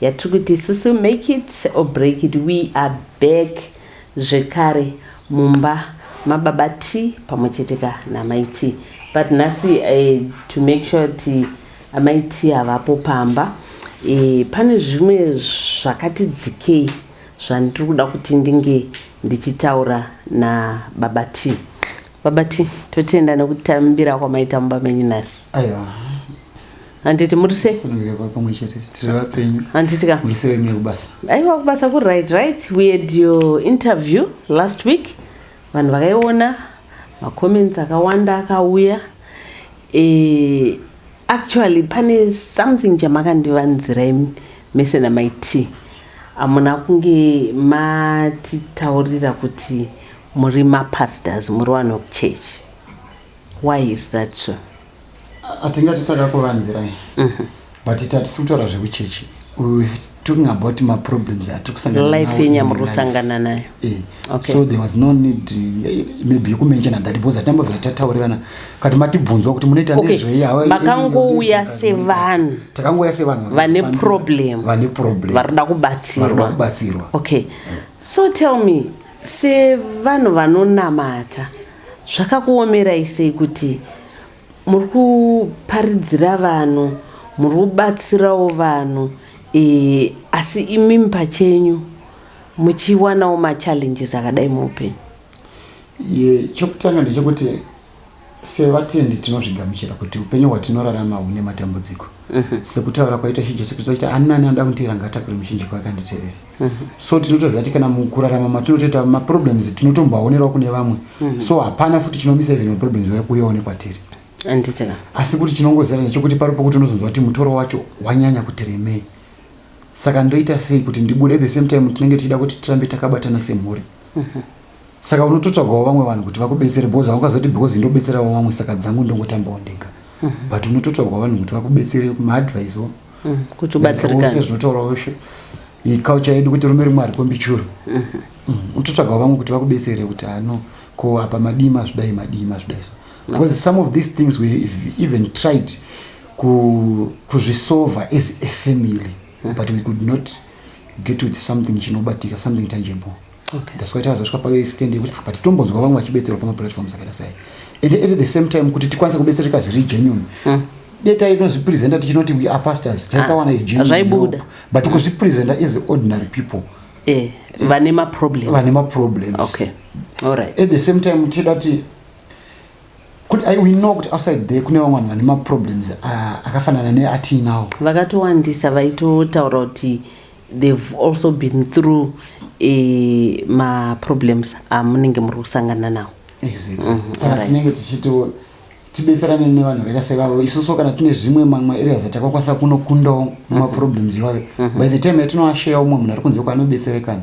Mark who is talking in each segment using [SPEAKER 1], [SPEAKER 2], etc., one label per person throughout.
[SPEAKER 1] Yatiri kuti isusu make it or break it we are back zvekare mumba mababa T pamwe chete ka namai T but nhasi eh, to make sure kuti amai T havapo pamba eh, pane zvimwe zvakati dzikei zvandiri kuda kuti ndinge ndichitaura nababa T baba T totenda nekuti tambira kwamaita mumba menyu nhasi aiwa handiti murise sunungirwa pamwe chete tiri vapenyu handiti ka murise wemie kubasa aiwa kubasa kuri right right we had your interview last week vanhu vakaiona macomments akawanda akauya e, actually pane something chamakandivanzira imi mese namai t amuna kunge matitaurira kuti muri mapastors muri vanhu church why is that so atingati takakuvanzirai mhm. but tatisi kutaura zvekuchechi talking about my problems atikusanganaalife yenyu yamurikusangana nayo eh, okay. so there was no need eh, maybe yekumenshona that because atambovira tataurirana kati matibvunzwa kuti munoita okay. nezvei makangouya sevanhu takangouya sevanhu vane problem vane problem varikuda kubatsirwa varikuda kubatsirwa okay yeah. so tell me sevanhu vanonamata Zvakakuomerai sei kuti muri kuparidzira vanhu, muri kubatsirawo vanhu eh, asi imimi pachenyu muchiwanawo machallenges akadai muupenyu? Ye, chokutanga ndechekuti sevatendi tinozvigamuchira kuti upenyu hwatinorarama hune matambudziko sekutaura kwaita ishe jesu kristu achiti ani nani anoda kundiranga atakure muchinjiko akanditevere Mhm. so tinotoziva kuti kana mukurarama matinotoita maproblems tinotomboaonerwa kune vamwe mhm. so hapana futi chinomisa even maproblems vaya kuyaone kwatiri anditika asi kuti chinongozara nechokuti pari pokuti unozonzwa kuti mutoro wacho wanyanya kuti remei saka ndoita sei kuti ndibude at the same time tinenge tichida kuti tirambe takabatana semhuri mhm. saka unototsvagawo vamwe vanhu kuti vakubetsere because haungazoti because ndobetserawo vamwe saka dzangu ndongotambawo ndega mm -hmm. but unototsvagawo vanhu kuti vakubetsere kumaadvise o mm -hmm. kuti ubatsirikane zvinotaurawo culture yedu kuti rume rimwe arikombichuro mm -hmm. mm -hmm. unototsvagawo vamwe kuti vakubetsere kuti ano ko apa madii mazvidai madii mazvidai so because some of these things we even tried kuzvisolva ku as a family mm -hmm. but we could not get with something chinobatika something tangible ndasvika tazosvika paextend yekuti ah, but tombonzwa vamwe vachibetserwa pamaplatforms akaita sei and at the same time kuti tikwanise kubetsereka zviri genuine hmm. deta inozvipresenta tichinoti we are pastors taisawana igenuinezvaibuda but hmm. kuzvipresenta as ordinary people eh, eh, vane maproblems vane maproblems okay all right at the same time tida kuti kuti i we know kuti outside there kune vamwe vanhu vane maproblems ah, akafanana neatiinawo vakatowandisa vaitotaura kuti They've also been through e, maproblems amunenge muri kusangana nawo exactly mm -hmm. saka tinenge tichito tibetserane nevanhu vakaita sevavo isusu kana tine zvimwe mamwe areas atakakwanisa kunokundawo mhm. maproblems iwayo mhm. by the time yatinoasheya umwe munhu ari kunze kwaanobetserekana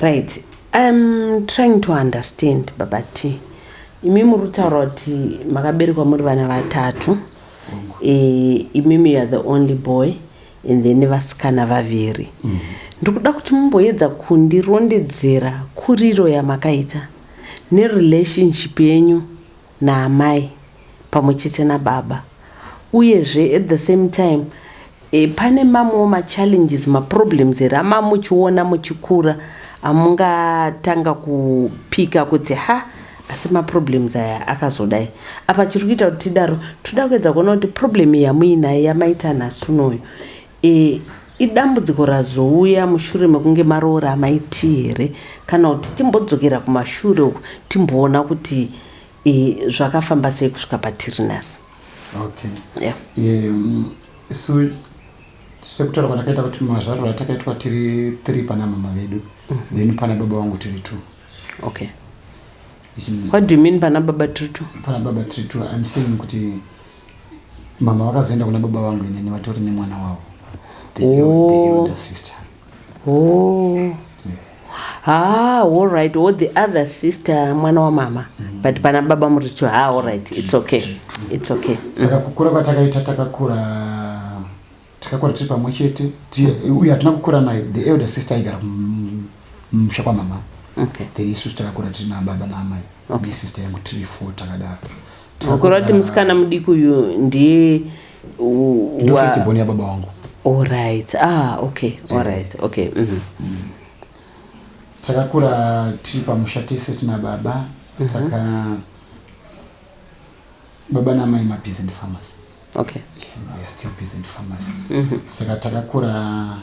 [SPEAKER 1] right im trying to understand baba t imi muri kutaura kuti makaberekwa muri vana vatatu eh, imimi youare the only boy and then vasikana vaviri mm. ndiri kuda kuti mumboedza kundirondedzera kuriro yamakaita nerelationship yenyu naamai pamwe chete nababa uyezve at the same time e, pane mamwewo machallenges maproblems here amaa muchiona muchikura amungatanga kupika kuti ha asi maproblems aya akazodai apa chiri kuita kuti tidaro toda kuedza kuona kuti problem yamuinayo yamaita nhasi unoyo Iri idambudziko razouya mushure mekunge maroora Amai Tee here kana kuti timbodzokera kumashure uko timboona kuti zvakafamba sei kusvika patiri nhasi. Okay. Yeah. Um, so sekutaura kwatakaita kuti mazvariro atakaitwa tiri three pana mama vedu mm -hmm. then pana baba wangu tiri two. Okay. What do you mean pana baba tiri two? Pana baba tiri two. I'm saying kuti mama vakazoenda kuna baba vangu inini vatori nemwana wavo the oh. el- elder sister oh ah all right or oh, the other sister mwana wamama mm. but pana baba muri to ah all right it's okay it's okay saka kukura kwatakaita takakura Takakura tiri pamwe chete uye hatina kukura naye. The elder sister aigara mumusha kwamama. Okay. Then isusu takakura tiri nababa naamai. Okay. Sister yangu tiri four takadaro. Makore kuti musikana mudiki uyu ndiye first born yababa wangu. Alright. Ah, okay. Eh. Alright. Okay. Mhm. Mm mm. Takakura tiri pamusha tese tina baba. Mm -hmm. Taka baba namai mabizi and farmers. okay we are still busy in pharmacy mm -hmm. saka takakura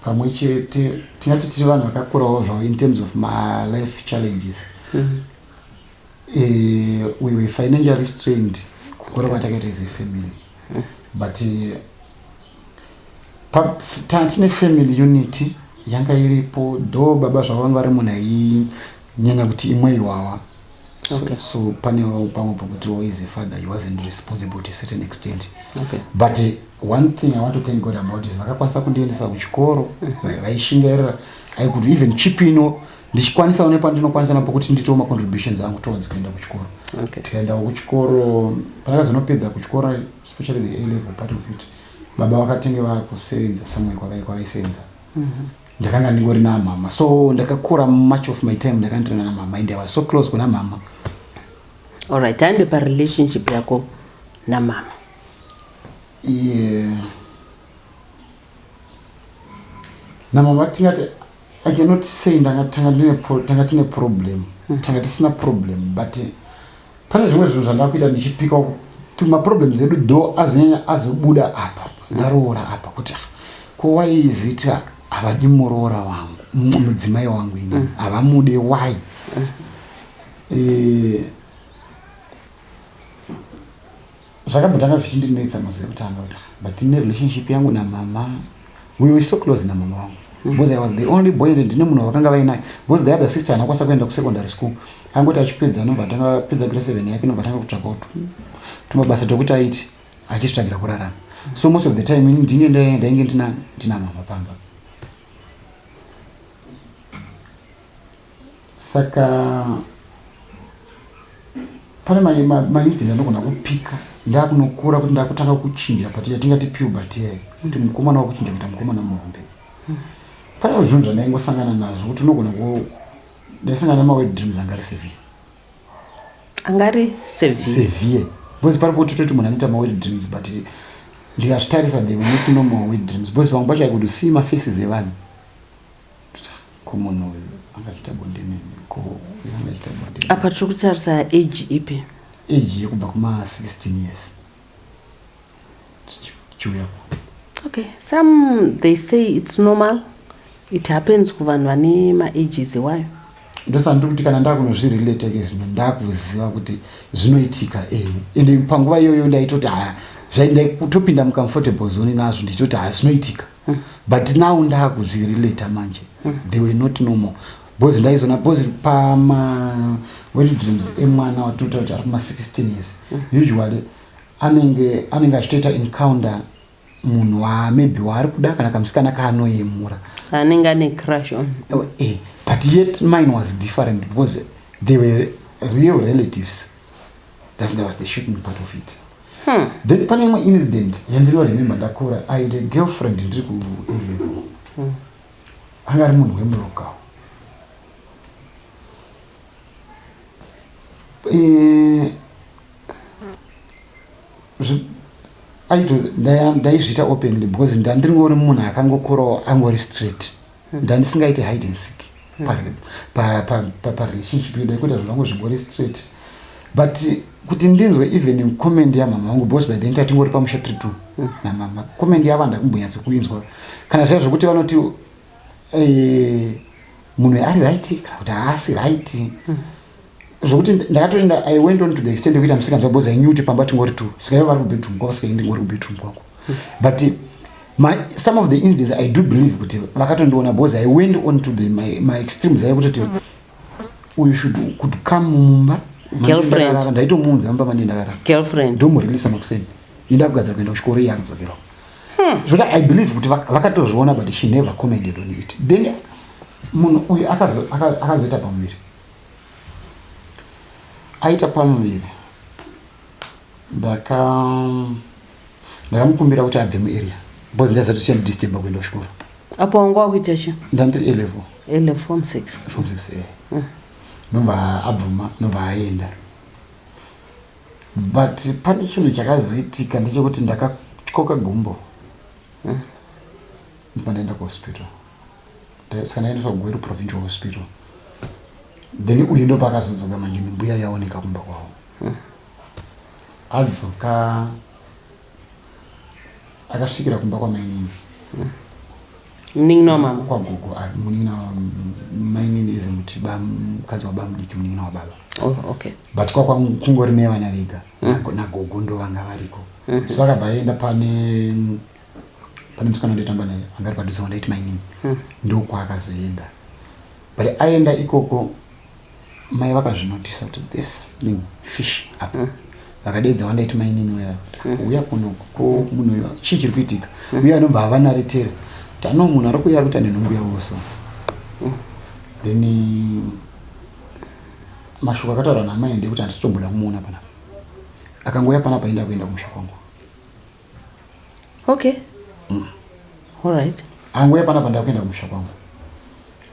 [SPEAKER 1] pamwe chete tingati tiri vanhu vakakurawo zvavo in terms of my life challenges mm -hmm. uh, we were financially strained kukura kwatakaita as a family mm -hmm. but eh, tine family unity yanga iripo do baba zvavo vanga vari munhu ainyanya kuti imwe iwawa okay. so, so pane pamwe pokuti is a father he wasn't responsible to a certain extent okay. but uh, one thing i want to thank god about is vakakwanisa kundiendesa kuchikoro mm-hmm. vaishingairira mm-hmm. i could even chip ino ndichikwanisawo nepandinokwanisa napo kuti nditiwo macontributions angu towards kuenda kuchikoro okay. tikaendawo kuchikoro pandakazonopedza kuchikoro especially the a level part of it baba vakatenge vakusevenza somewhere kwavaisevenza mm-hmm. ndakanga ndingori namama so ndakakura much of my time ndakandirana namama and i was so close kuna mama allright tande parelationship yako namama yeah. namama tingati i cannot say tanga tine problem mm. tanga tisina problem but Pane zvimwe zvinhu zvandakuita ndichipika uku kuti maproblems edu do azonyanya azobuda apa ndaroora apa kuti ah, ko why is it ah, havadi muroora wangu mu- mudzimai wangu ini havamude why Eh, Zvakambotanga zvichindinetsa mazuva ekutanga kuti but tine relationship yangu namama we were so close namama wangu mm. because i was the only boy and ndine munhu vakanga vainaye because the other sister anakwanisa kuenda kusecondary school angoti achipedza anobva atanga pedza grade seven yake nobva atanga kutsvakawo tumabasa tokuti aiti achitsvagira kurarama so most of the time ini ndinge ndainge ndina mama pamba saka pane maidhi ndandogona kupika ndakunokura kuti ndakutanga kuchinja but yatingati puberty yayo kuti mukomana wakuchinja kuita mukomana muhombe pane zvinhu zvandaingosangana nazvo kuti unogona ku ndaisangana nemawed dreams angari sevie angari sevie because pari poti toti munhu anoita mawed dreams but ndikazvitarisa the week normal wed dreams because vamwe pacho i could see mafaces evanhu komunhu uyu angaita bonde nini ko uyu angaita bonde apa tiri kutarisa age ipi age yekubva kuma 16 years chiuya okay some they say it's normal it happens kuvanhu vane maages iwayo ndosandiri kuti kana ndakunozvirelate ke zvino ndakuziva kuti zvinoitika e eh, ende panguva iyoyo ndaitoti haya zvaindaikutopinda mucomfortable zone nazvo ndichitoti haya zvinoitika but now ndakuzvirelata manje they were not normal because ndaizona because pama wedding dreams emwana watoita kuti ari kuma 16 years usually anenge anenge achitoita encounter munhu wa maybe waari kuda kana kamusikana kaanoyemura anenge ane crush on Oh, eh, but yet mine was different because they were real relatives that's that was the shooting part of it Hmm. Then pane imwe incident yandino remember ndakura I had a girlfriend ndiri ku A level. Hmm. Anga ari munhu wemuroka. Eh aito ndaizviita openly because ndandiri ngori munhu akangokurawo angori straight. hmm. ndandisingaite hide and seek parelationship yodai kuita zvinhu zvangu zvingori straight but kuti ndinzwe even comment yamama vangu bos by then tatingori pamusha tiri two hmm. namama comment yavo handakumbonyatso kuinzwa kana zvaya zvokuti vanoti eh, munhu ari right kana kuti haasi right hmm. zvokuti ndakatoenda i went on to the extent yekuita misikanzwa because i knew kuti pamba tingori two sikaiva vari kubedroom kwavo sikaindi ngori kubedroom kwangu but my, some of the incidents i do believe kuti vakatondiona because i went on to the, my, my extremes aye kutoti uyu should could come mumba girlfriend ndaitomuunza mumba mandi ndakarara girlfriend ndomureleasa makuseni inda kugadzira kuenda kuchikoro iye akudzokerawo hmm. zvoda i believe kuti vakatozviona but she never commented on it then munhu uyu akazoita pamuviri aita pamuviri ndaka ndakamukumbira kuti abve muarea because ndaiziva kuti chandidisturba kuenda kuchikoro apo wanga wakuita chi ndandiri alevel alevel form six form six e mm. nobva abvuma nobva aenda but pane chinhu chakazoitika ndechekuti ndakatyoka gumbo mm. ndobva ndaenda kuhospital saka ndaendeswa kugweru provincial hospital then uyu ndo paakazodzoka manje nembuya yaoneka kumba kwavo hmm. adzoka akasvikira kumba kwamainini hmm. munin'ina wamama kwagogo ah, munin'ina mainini izi muti mukadzi wabamudiki munin'ina wababa oh, okay. but kwakungori nevana vega hmm. nagogo ndo vanga variko so akabva aenda pane pane musikana wandaitamba naye anga ari padhuze wandaiti mainini hmm. ndokwaakazoenda but aenda ikoko mai vakazvinotisa kuti there's something fish up hmm. vakadeedza wandaiti mainini uya hmm. uya kuno ko munhu uyo chii chiri kuitika uya anobva havanaretera kuti ano munhu ari kuya ari kuita nenhumbu yavo so then mashoko akataurwa namai ndekuti handisitomboda kumuona panapa akangouya panapa enda kuenda kumusha kwangu okay mm. all right anguya panapa ndakuenda kumusha kwangu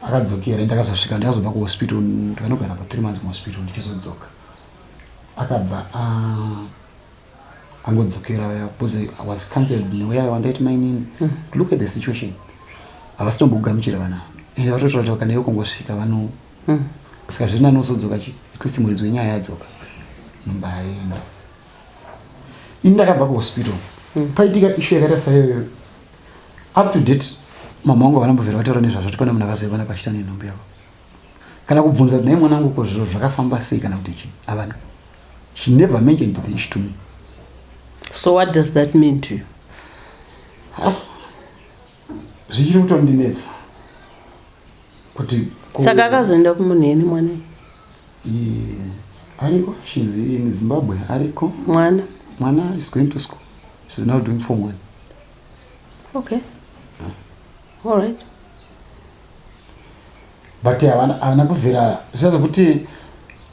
[SPEAKER 1] akadzokera ndakazosvika ndakazobva kuhospital ndikanogara pa three months muhospital ndichizodzoka akabva ah, angodzokera ya because i was cancelled neuya wandaiti mainini hmm. look at the situation havasi tombokugamuchira vana ende vatototaura kana iwe kungosvika vano hmm. saka zviri nanosodzoka chi at least muridzi wenyaya yadzoka mumba aenda ini ndakabva kuhospital mm. paitika ishu yakaita saiyoyo up to date mama wangu havana mbovhera vataura nezvazvo kuti pane munhu akazoivana pachita nenhumbi yavo kana kubvunza kuti nai mwanangu ko zviro zvakafamba sei kana kuti chii havana she never mentioned the issue to me so what does that mean to you ah, zvichiri kutondinetsa kuti saka akazoenda kumunhu yeni mwana Yeah. Ariko, she's in Zimbabwe. Ariko. Mwana. Mwana is going to school. She's now doing form one. Okay. Huh? All right. But havana kuvhera zviya zvekuti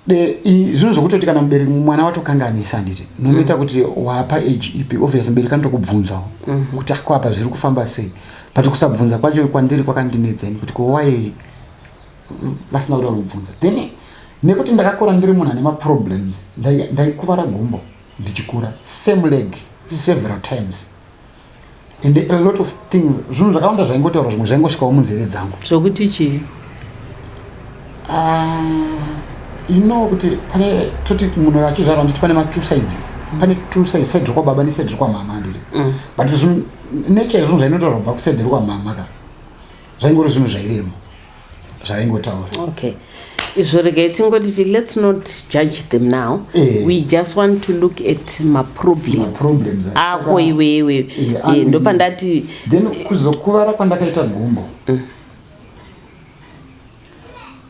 [SPEAKER 1] zvinhu zvekutoti kana mubereki mwana watokanganisa handiti nonoita mm. kuti wapa age ipi obvious mubereki anotokubvunzawo mm-hmm. kuti akwapa ah, zviri kufamba sei but kusabvunza kwacho kwandiri kwakandinetsa ini kuti kowai vasina kuda kubvunza then nekuti ndakakura ndiri munhu ane maproblems ndaikuvara gumbo ndichikura same leg several times and a lot of things zvinhu zvakawanda zvaingotaura zvimwe zvaingosvikawo munzeve dzangu zvokuti chii ah, you know kuti pane toti munhu achizvarwa nditi pane matwo sides pane two sides side rekwababa neside rekwamama handiri mm. but nature yezvinhu zvainotaura kubva kuside rekwamama ka zvaingori zvinhu zvairemo zvaingotaura okay izvo regai tingoti ti let's not judge them now eh. we just want to look at maproblems eh. ako iwewe eh, eh, ndopandati then kuzokuvara kwandakaita gumbo mm.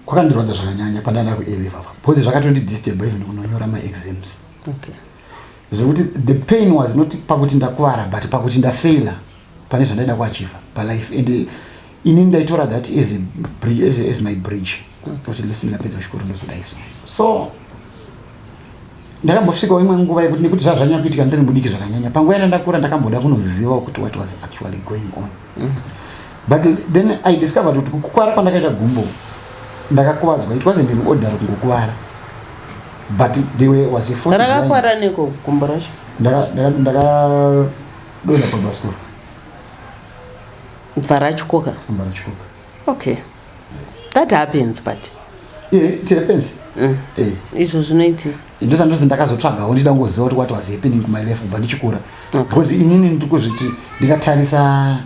[SPEAKER 1] kwakandirwadza zvakanyanya pandanda kueleva pa bcause zvakatondidisturba even kunonyora maexams okay. zvekuti the pain was not pakuti ndakuvara but pakuti ndafaila pane zvandaida kuachiva palife and ini ndaitora that as, a, as, as my bridge kuti listen ndapedza chikoro ndozodai so so ndakambosvikawo imwe nguva yekuti nekuti zvazvanyanya kuitika ndiri mudiki zvakanyanya panguva yana ndakura ndakamboda kunoziva kuti what was actually going on mm. but then i discovered kuti kukuvara kwandakaita gumbo ndakakuvadzwa it wasn't an order kungokuvara but they were was a force rakakuvara neko gumbo racho ndakadonha pabhasikoro Mvarachkoka. Mvarachkoka. Okay. That happens but. Yeah, it happens. Mm. Eh. Izvo zvinoiti. Ndo sandozi ndakazotsvagawo ndida ngoziva kuti what was happening to my life kubva ndichikura. Okay. Because inini ndikuzviti ndikatarisa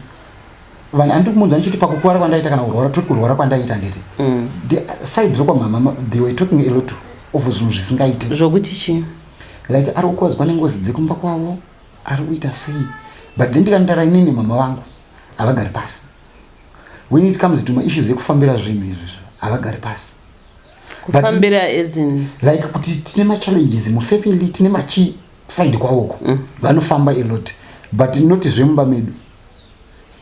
[SPEAKER 1] vanhu andiri kumuudza ndichiti pakukuvara kwandaita kana kurwara toti kurwara kwandaita nditi mm. the side rokwa mama they were talking a lot of zvinhu zvisingaite zvokuti chii like ari kukwazwa nengozi dzekumba kwavo ari kuita sei but then ndikandara inini mama vangu havagari pasi when it comes to maissues ekufambira zvinhu izvizvo havagari pasi kufambira as in like kuti tine machallenges mufamily tine machi side kwawoko mm. vanofamba a lot but not zvemumba medu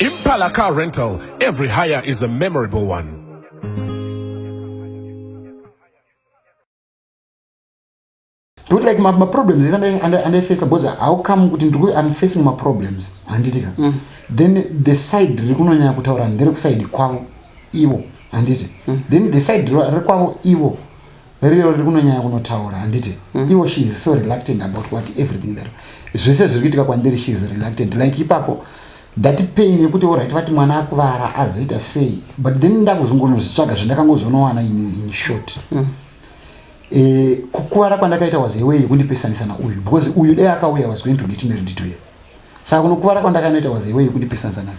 [SPEAKER 1] Impala Car Rental. Every hire is a memorable one. But like my, my problems is under, under, under face because how come kuti ndikuti I'm facing my problems handiti ka mm. then the side rikunonyanya kutaura ndere kuside kwavo ivo handiti mm. then the side rekwavo ivo riro riri kunonyanya kunotaura handiti mm. ivo she is so reluctant about what everything that zvese zviri kuitika kwandiri she is reluctant like ipapo that pain yekuti orit vati mwana akuvara azoita sei but then ndakuzongonozvitsvaga zvandakangozonowana in short mm. e, kukuvara kwandakaita was away yekundipesanisa nauyu because uyu dai akauya was going to get married to ye saka kunokuvara kwandakanoita was away yekundipesanisa nayo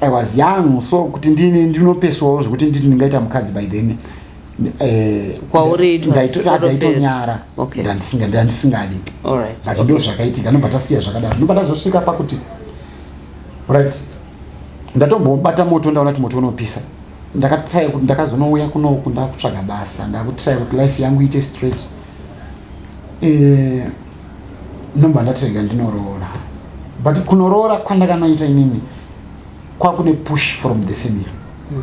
[SPEAKER 1] I was young so kuti ndini ndinopeswawo zvekuti nditi ndingaita mukadzi by then eh, Kwauri it was ndaito- sort of ndaitonyara a- okay. Ndandisinga- ndandisingadi All right. but ndo zvakaitika ndobva tasiya zvakadaro ndobva ndazosvika pakuti right ndatombobata moto ndaona kuti moto unopisa ndakatry kuti ndakazonouya kunoku ndakutsvaga basa ndakutrya kuti life yangu iite straight Eh, ndomba ndatirega ndinoroora but kunoroora kwandakanoita inini kwakune push from the family hmm.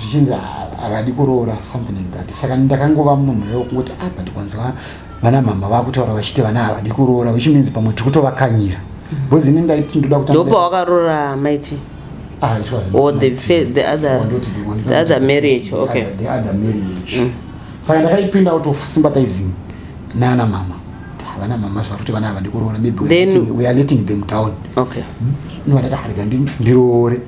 [SPEAKER 1] zvichinzi havadi kuroora something like that saka ndakangova munhu wekungoti ah but kwanziwa vana mama vakutaura vachiti vana havadi kuroora which means pamwe tiri kutovakanyira hmm. because ini ndaiti ndoda kutandopa wakaroora maiti Ah, it was or the, fe- the other Wandoti the one- the other marriage the okay other- the other marriage saka ndakaipinda out of sympathizing nana mama havana mama zvakuti vana havadi kuroora maybe we are Then- letting- we are letting them down okay ndovadati harega ndi- ndiroore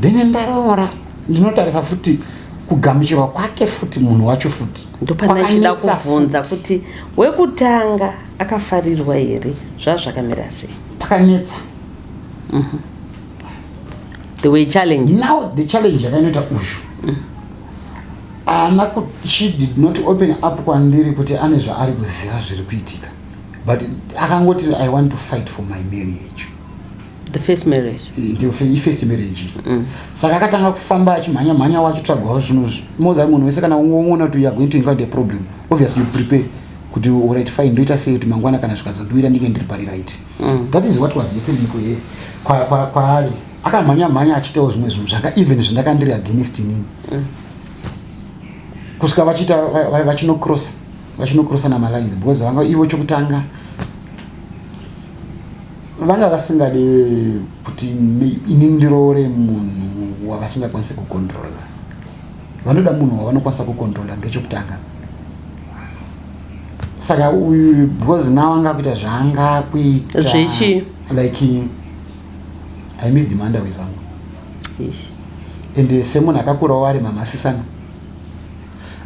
[SPEAKER 1] then ndaroora ndinotarisa futi kugamuchirwa kwake futi munhu wacho futi ndopana ichida Kwakanetsa kubvunza futi. kuti wekutanga akafarirwa here zvazvakamira sei pakanetsa mm -hmm. the way challenge now the challenge yakainoita uyu mm. ana ku, she did not open up kwandiri kuti ane zvaari kuziva zviri kuitika but akangoti i want to fight for my marriage the first marriage eh, first marriage mm. saka akatanga kufamba achimhanya mhanya wachitsvagwawo zvinhu zvi moza munhu wese kana ungoona kuti youare going to invite a problem obviously you prepare kuti urit fine ndoita sei kuti mangwana kana zvikazondiwira ndinge ndiri pari right mm. mm. that is what was happening kuye kwaari kwa, kwa akamhanya mhanya achitawo zvimwe zvinhu zvanga even zvindakandiri against inini mm. kusvika vachiita vachinocrossa vachinocrossa namalines because vanga ivo chokutanga vanga vasingade kuti ini ndiroore munhu wavasingakwanisi kucontrola vanoda munhu wavanokwanisa kucontrola ndechokutanga saka uyu because now anga kuita zvaanga kuita zvichi like i miss demanda wezangu ende semunhu akakurawo ari mamasisana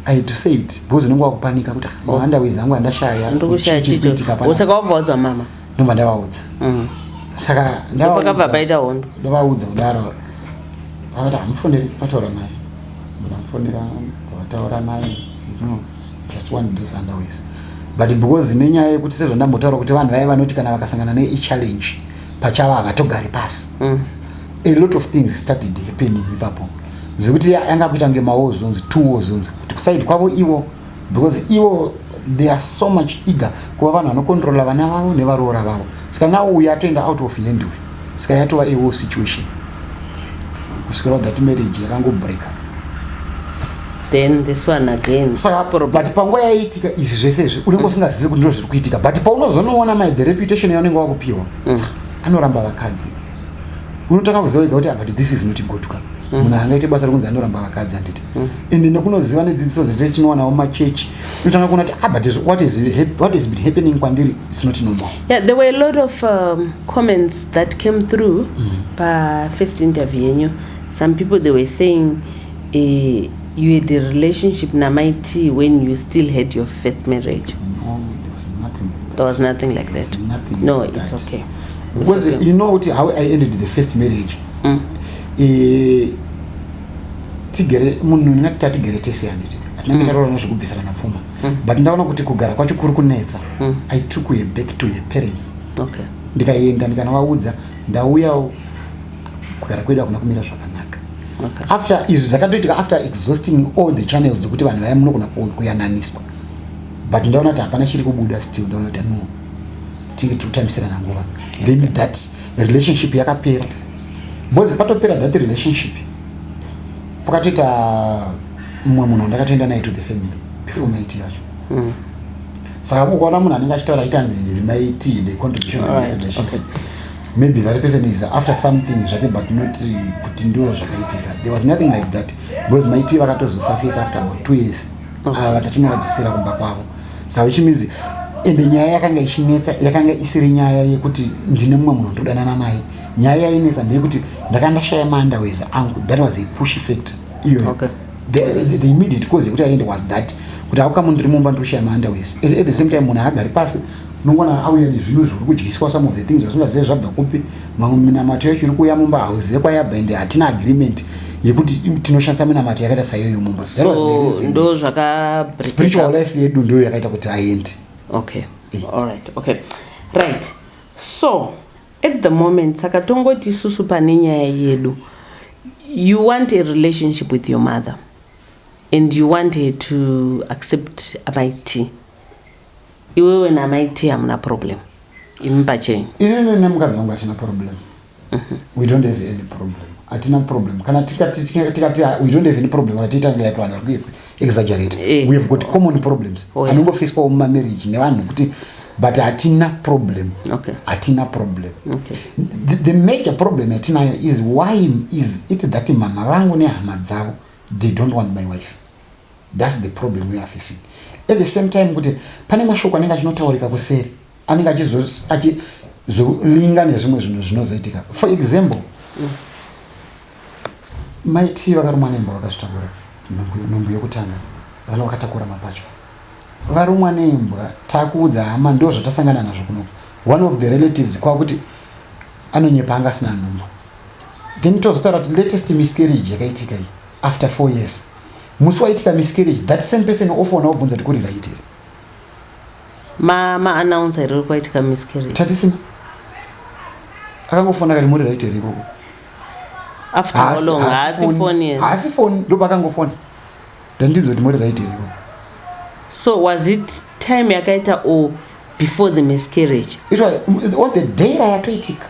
[SPEAKER 1] i had to say it because unenge wakupanika kuti ah, mawanda oh. wezangu andashaya ndokushayaitika wabva wadzwa mama ndobva ndavaudza mm. saka ndapakabva paita hondo ndavaudza kudaro vakati hamufoneri vataura naye ndamufonera vataura naye mm. just one of those underways but because nenyaya yekuti sezvandambotaura kuti vanhu vaye vanoti kana vakasangana neichallenge pachava havatogari pasi mm. a lot of things started happening ipapo zvekuti yanga kuita kunge mawo zonzi two wo zonzi kuti kusaidi kwavo ivo because ivo they are so much eager kuva vanhu vanokontrola vana vavo nevaroora vavo saka nawo uyo atoenda out of hand uyo saka yatova a war situation kusvikira that marriage yakangobreaker then this one again saka but panguva yaiitika izvi zvese izvi unenge usingazivi kuti ndizvo zviri kuitika but paunozonoona mai the reputation yaunenge wakupiwa mm. anoramba vakadzi unotanga kuziva ega kuti ah, but this is not good ka mm. munhu angaite basa rekunzi anoramba vakadzi handiti mm. and nekunoziva nedzidziso dzete tinoonawo machurch unotanga kuona kuti ah, but what is, what is been happening kwandiri its not normal yeah, there were a lot of um, comments that came through mm. pafirst interview yenyu some people they were saying Eh, you had a relationship namai t when you still had your first marriage no there was nothing there was nothing like that nothing no like it's that. okay because it's okay. you know kuti how i ended the first marriage mm. e, tigere munhu ndingati tatigere tese handiti atinenge mm. taroora nezvekubvisirana pfuma mm. but ndaona kuti kugara kwacho kuri kunetsa mm. i took her back to her parents okay. ndikaenda ndikanovaudza ndauyawo kugara kwedu hakuna kumira zvakanaka okay. after izvi zvakatoitika after exhausting all the channels dzekuti vanhu vaya munogona kuyananiswa but ndaona kuti hapana chiri kubuda still ndaona kuti no tinge tiri kutambisirana nguva then that relationship yakapera because patopera that relationship pakatoita mumwe munhu ndakatoenda naye to the family before night yacho mm. saka ukaona munhu anenge achitaura achitanzi maiti the contribution of this relationship maybe that person is after something zvake but not uh, kuti ndo zvakaitika there was nothing like that because my tea vakatozosurface after about two years ava ah, tatinovadzosera kumba kwavo so which means ende nyaya yakanga ichinetsa yakanga isiri nyaya yekuti ndine mumwe munhu ndodanana naye nyaya yainetsa ndeyekuti ndaka ndashaya maandawez angu that was a push effect iyoyo okay. the, the, the immediate cause yekuti aiende was that kuti akukamu ndiri mumba ndiri kushaya maandawez at the same time munhu haagari pasi unongwana auya nezvimwe zviri kudyiswa some of the things vasingazive zvabva kupi mamwe minamato yacho iri kuuya mumba hauzive kwayabva ende hatina agreement yekuti tinoshandisa minamato yakaita saiyoyo mumba ndo zvakaspiritual life yedu ndoyo yakaita kuti aende okay eh. all right okay right so at the moment saka tongoti isusu pane nyaya yedu you want a relationship with your mother and you want her to accept amaiti Iwewe na mai T hamuna problem. Imi pachenyu. Inini nemukadzi wangu hatina problem. Mm -hmm. We don't have any problem. Hatina problem. Kana tikati tikati we don't have any problem kana tiita ngaya kana kuti exaggerate. Eh. We have got common problems. Oh, yeah. Anongo face kwa mama marriage ne vanhu kuti but hatina problem. Okay. Hatina problem. Okay. The, the major problem hatina is why is it that mama vangu ne hama dzavo they don't want my wife. That's the problem we are facing. At the same time kuti pane mashoko anenge achinotaurika kuseri anenge achizolinga nezvimwe zvinhu zvinozoitika. For example, mai tii vakarumwa nemba vakazvitakura nhumbu yokutanga vana vakatakura mapatya varumwa nembwa takuudza hama ndo zvatasangana nazvo kunoku one of the relatives kwakuti anonyepa anga asina nhumbu then tozotaura kuti latest miscarriage yakaitika iyi after four years musi waitika miscarriage that same person ofoona obvunza kuti kuri right here ma ma announcer riri kwaitika miscarriage tatisina akangofoona kari muri right here ikoko after how long haasi phone here haasi phone ndopa akangofona ndandidzo kuti muri right here ikoko so was it time yakaita or before the miscarriage it was on the day rayatoitika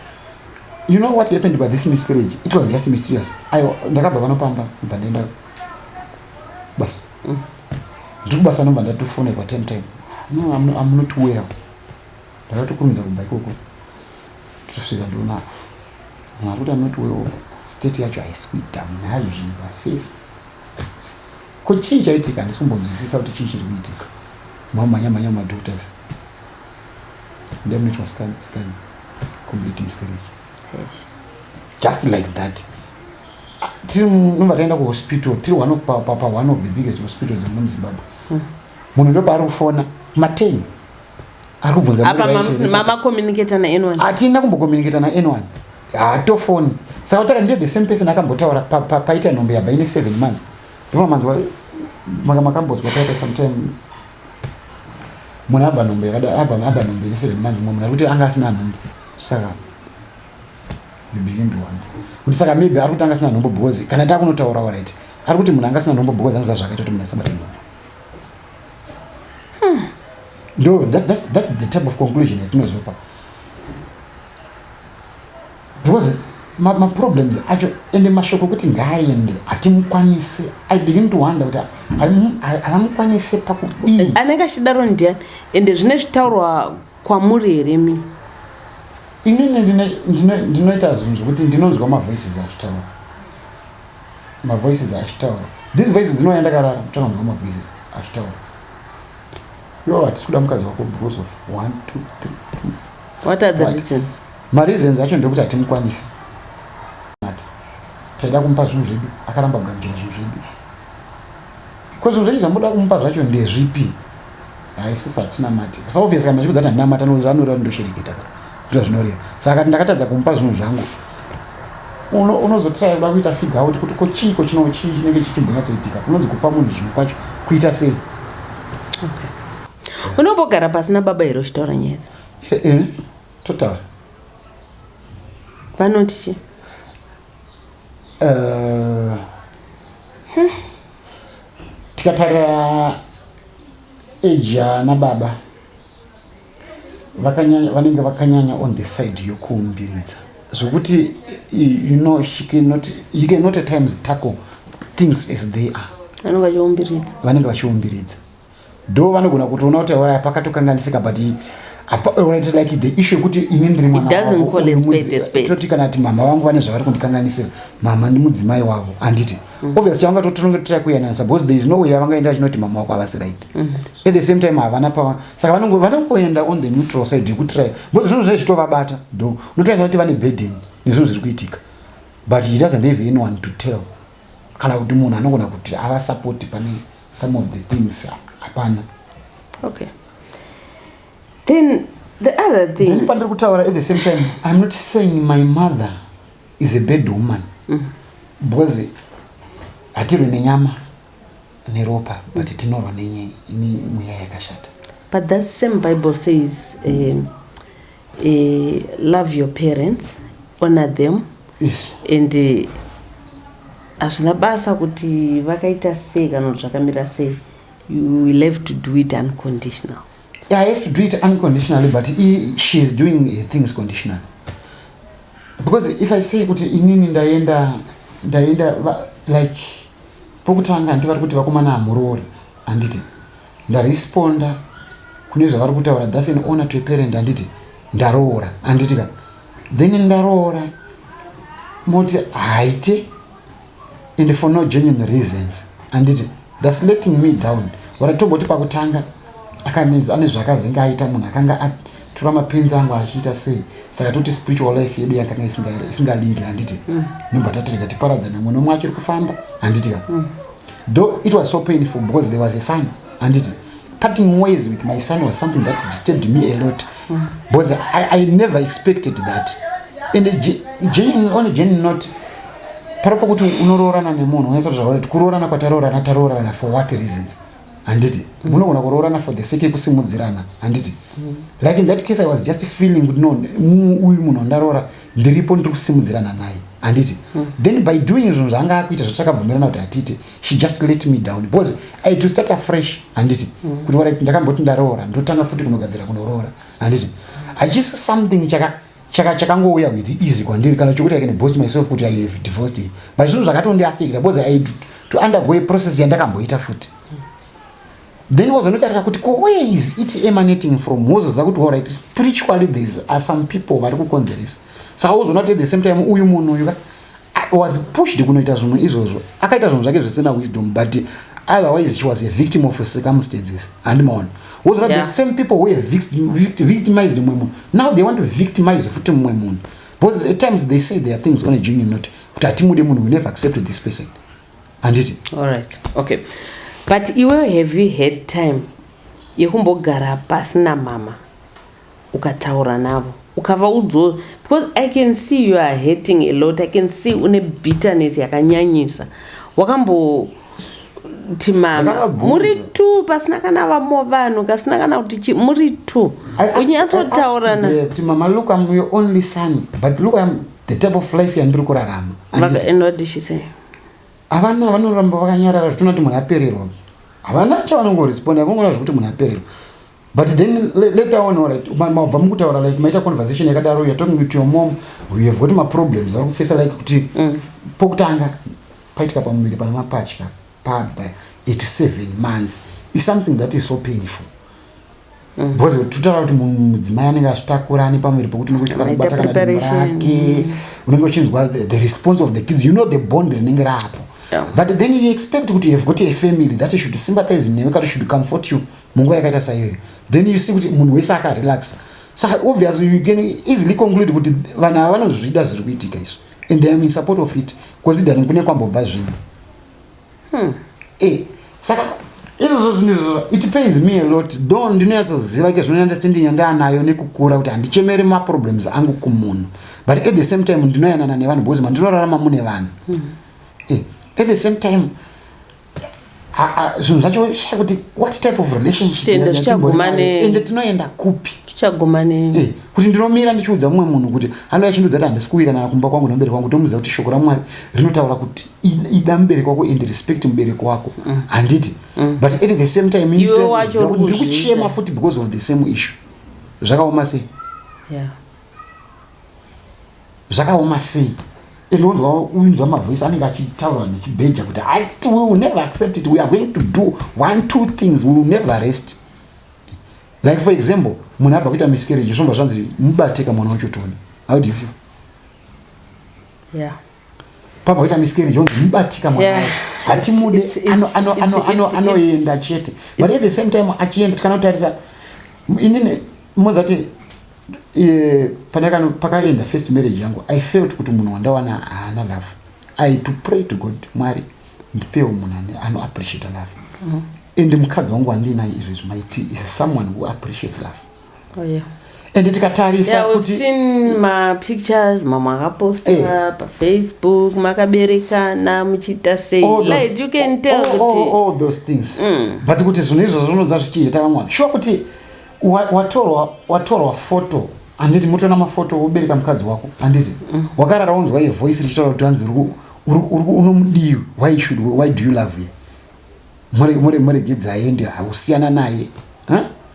[SPEAKER 1] you know what happened by this miscarriage it was just mysterious ayo ndakabva vanopamba bva ndaenda basa mm. ndiri kubasa nobva ndatofonerwa time time no I'm, I'm not well ndakatokurumidza kubva ikoko tosvika ndona mwari kuti I'm not well state yacho haisi kuita munhayo zvinhu pafesi ko chii chaitika handisi kumbonzwisisa kuti chii chiri kuitika mamhanya mhanya mumadoctors ndemunoitwa scan scan complete miscarriage just like that tiri nova taenda kuhospital tiri one of pa, pa, pa one of the biggest hospital dzemuno muzimbabwe hmm. munhu ndopaari kufona mateni ari kubvunzamamacommunicata nanyone hatina kumbocommunicata nanyone hatofoni saka kutaura ndiye the same person akambotaura paita nhombe yabva ine seven months ndomamanzwa makambodzwa paita sometime munhu abva nhombe yakada abva nhombe ine seven months mumwe munhu ari kuti anga asina nhombe saka maybe him one kuti saka maybe ari kutanga asina nhombo because kana takunotaura alright ari kuti munhu anga asina nhombo because anoziva zvakaita kuti munhu asabate nhombo hmm. ndo that, that, that the type of conclusion yatinozopa because maproblems ma acho ende mashoko okuti ngaaende hatimukwanisi i begin to wonder kuti havamukwanise pakudii anenge achidaro ndiani ende zvine zvitaurwa kwamuri here mi inini ndinoita zvinhu zvekuti ndinonzwa mavoices achitaura mavoices achitaura these voices dzinoya ndakarara tanonzwa mavoices achitaura yo hatisi kuda mukadzi wako because of one two three things what are the reasons mareasons acho ndekuti hatimukwanisi ati taida kumupa zvinhu zvedu akaramba kugangira zvinhu zvedu ko zvinhu zvedu zvamuda kumupa zvacho ndezvipi hai sisi hatinamati sa obvious kana zvikudza ndinamata anoreva ndoshereketa zviro zvinoreva saka kati ndakatadza kumupa zvinhu zvangu unozotisaida kuita figa out kuti ko chii ko chino chii chinenge chichimbonyatsoitika unonzi kupa munhu zvinhu kwacho kuita sei unombogara pasina baba here uchitaura nyaya dzi eh, totaura vanoti chii eh, hmm. Tikatarira age yana baba vakanyanya vanenge vakanyanya on the side yokuumbiridza zvokuti you know she cannot you cannot at times tackle things as they are vanenge vachiumbiridza vanenge vachiumbiridza do vanogona kutoona kuti auraya pakatokanganisika but right like the issue yekuti ini ndiri mwanatoti kana ati mama vangu vane zvavari kundikanganisira mama ndimudzimai wavo handiti mm. obvious chavanga totonge totrai kuyananisa because there is no way yavangaenda vachinoti mama wako havasi right mm. at the same time havana pava saka vanokoenda on the neutral side yekutrai because zvinhu zvae zvitovabata do unotoyasa kuti vane burden nezvinhu zviri kuitika but he doesn't have anyone to tell kana kuti munhu anogona kuti avasapoti panei some of the things hapana okay then the other thing then pandiri kutaura at the same time i'm not saying my mother is a bad woman mm. because hatirwe nenyama neropa but mm. tinorwa nenye ini mweya yakashata but that same bible says um, Eh, love your parents honor them yes. and eh, hazvina uh, basa kuti vakaita sei kana kuti zvakamira sei you will have to do it unconditional yeah, i have to do it unconditionally but he, she is doing eh, things conditional because if i say kuti inini ndaenda ndaenda like pokutanga ndivari kuti vakomana hamuroori handiti Ndaresponder kune zvavari kutaura thats an honor to a parent handiti ndaroora handiti ka then ndaroora moti haite and for no genuine reasons handiti thats letting me down ora tomboti pakutanga akanenzi ane zvakazenge aita munhu akanga tora mapenzi angu achiita sei saka toti spiritual life yedu yakanga isingalingi handiti mm. nobva tatirega tiparadzane mumwe nomwe achiri kufamba handiti ka mm. though it was so painful because there was a son handiti parting ways with my son was something that disturbed me a lot mm. because I, i never expected that and on a genuine note pari pokuti unoroorana nemunhu unaisa kuti zvaurati kuroorana kwataroorana taroorana for what reasons handiti munogona kuroorana for the sake yekusimudzirana handiti like in that case i was just feeling kuti no mu- uyu munhu wandaroora ndiripo ndiri kusimudzirana naye handiti then by doing izvonhu zvaanga akuita zvatakabvumirana kuti hatiite she just let me down because i had to start afresh handiti kuti wara ndakamboti ndaroora ndotanga futi kunogadzira kunoroora handiti hachisi something chaka chaka chakangouya with easy kwandiri kana chokuti i can boast myself kuti i have divorced him but zvinhu zvakatondiafekta because i had to undergo a process yandakamboita futi then wazonotarisa kuti ko where is it emanating from wozoziva kuti allright spiritually theres are some people vari kukonzeresa saka wozoona kuti at the same time uyu munhu uyu ka I was pushed kunoita zvimwe izvozvo akaita zvinhu zvake zvisina wisdom but otherwise she was a victim of circumstances handimaona woziva yeah. the same people who victimized mumwe munhu now they want to victimize futi mumwe munhu because at times they say their things on a genuine note kuti hatimude munhu we never accepted this person handiti allright okay but iwewe have you had time yekumbogara pasina mama ukataura navo ukavaudzawo because i can see you are hating a lot i can see une bitterness yakanyanyisa wakambo kuti mama muri two pasina kana vamo vanhu kasina kana kuti chi muri two unyatsotauranaa kuti mama look am your only son but look am the type of life yandiri kurarama havana vanoramba vakanyarara zvitona kuti munhu apererwa havana chavanongoresponda vangoona zvekuti munhu apererwa but then later on right mabva mukutaura like maita conversation yakadaro you're talking with your mom you have got maproblems ari kufesa like kuti mm. pokutanga paitika pamuviri pana mapatya pabva 87 months is something that is so painful mm. because totaura kuti mudzimai anenge azvitakura ane pamuviri pokuti unenge uchikwana kubata kana dimba rake unenge uchinzwa the response of the kids you know the bond rinenge raapo but then you expect kuti you have got a family that should sympathize newe kati should comfort you mm. munguva yakaita saiyoyo then you see kuti munhu wese akarelaxa so obviously you can easily conclude kuti vanhu ava vanozvida zviri kuitika izvi and they am in support of it bcause idani kune kwambobva zvinhu hmm. e saka izvozvo zvinhu izvozvo it pains me a lot do ndinonyatsoziva ke zvinoenda stindinya ndaanayo nekukura kuti handichemeri maproblems angu kumunhu but at the same time ndinoyanana nevanhu bcause mandinorarama mune vanhu hmm. e at the same time zvinhu zvacho shaya kuti what type of relationshipende tinoenda kupi tichaguma nei eh, kuti ndinomira ndichiudza mumwe munhu kuti anouya chindiudza kuti handisi kuwiranana kumba kwangu nemubereki wangu tomuudza kuti shoko ramwari rinotaura kuti ida mubereki wako and respect mubereki wako mm. handiti mm. but at the same time ndikuchema futi because of the same issue zvakaoma sei zvakaoma sei and wonzwa winzwa mavoice anenge achitaura nechibheja kuti haiti we will never accept it we are going to do one two things we will never rest like for example munhu abva kuita miscarriage zvomba zvanzi mubateka mwana wacho toni how do you feel yeah. pabva kuita miscarriage yonzi mubatika mwana yeah. hatimude anoenda chete but at the same time achienda tikanotarisa inini mozati eh, pakaenda first marriage yangu i felt kuti munhu wandawana haana love i to pray to god mwari ndipewo munhu anoappreciate love mm. and mukadzi wangu wandiinaye izvezvi my t is someone who appreciates love oh, yeah. and tikatarisa yeah, kuti seen ma pictures mamwe akaposta hey. Eh. pa facebook makaberekana muchiita sei like you can tell all, all, all, all those things mm. but kuti zvinhu izvozvo unonza zvichiita vamwana shuwa kuti watorwa watorwa foto handiti motona mafoto wobereka mukadzi wako handiti mm. wakarara wonzwa ye voice richitaura kuti hanzi unomudii why should why do you love ye muregedzi aende hausiyana naye huh?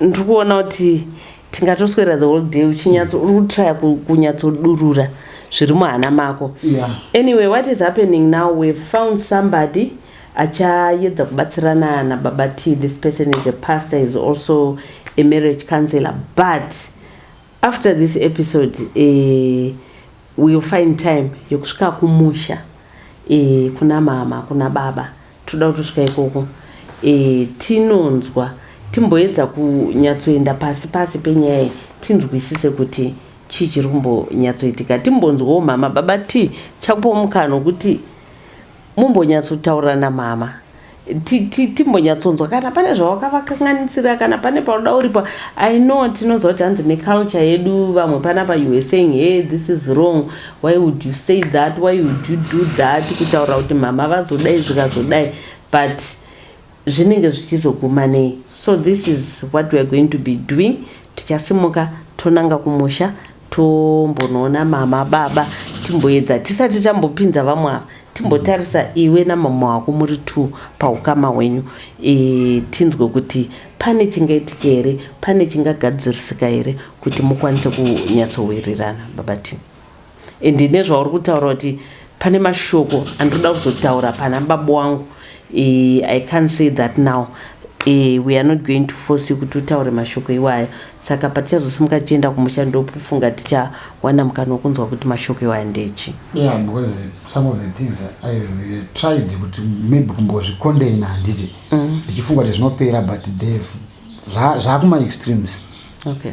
[SPEAKER 1] ndiri kuona kuti tingatoswera the whole day uchinyatso uri kutraya kunyatsodurura zviri muhana mako yeah. anyway what is happening now we've found somebody achayedza kubatsirana nababa t this person is a pastor is also a marriage counselor but After this episode eh, we'll find time yokusvika kumusha eh, kuna mama kuna baba toda kutosvika ikoko eh, tinonzwa timboedza kunyatsoenda pasi pasi penyaya tinzwisise kuti chii chiri kumbonyatsoitika timbonzwawo mama baba ti chakupo mukana wokuti mumbonyatsotaura namama timbonyatsonzwa kana pane zvawakavakanganisira kana pane paunoda uripa i know tinoziva kuti hanzi neculture yedu vamwe pana pa you were saying hey this is wrong why would you say that why would you do that kutaura kuti mama vazodai zvikazodai but zvinenge zvichizoguma nei so this is what weare going to be doing tichasimuka tonanga kumusha Tombonoona mama baba timboedza tisati tambopinza vamwe ava timbotarisa iwe namama wako muri two paukama hwenyu e, tinzwe kuti pane chingaitika here pane chingagadzirisika here kuti mukwanise kunyatsowirirana baba tim and nezvauri kutaura kuti Pane mashoko andinoda kuzotaura pana baba wangu eh, I can't say that now eh, we are not going to force you kuti utaure mashoko iwaya saka patichazosimuka tichienda kumusha ndofunga tichawana mukana wekunzwa kuti mashoko iwaya ndechi yeah because some of the things i've uh, tried kuti maybe kumbozvikondeina handiti mm. ndichifunga kuti zvinopera but they've zvakuma extremes okay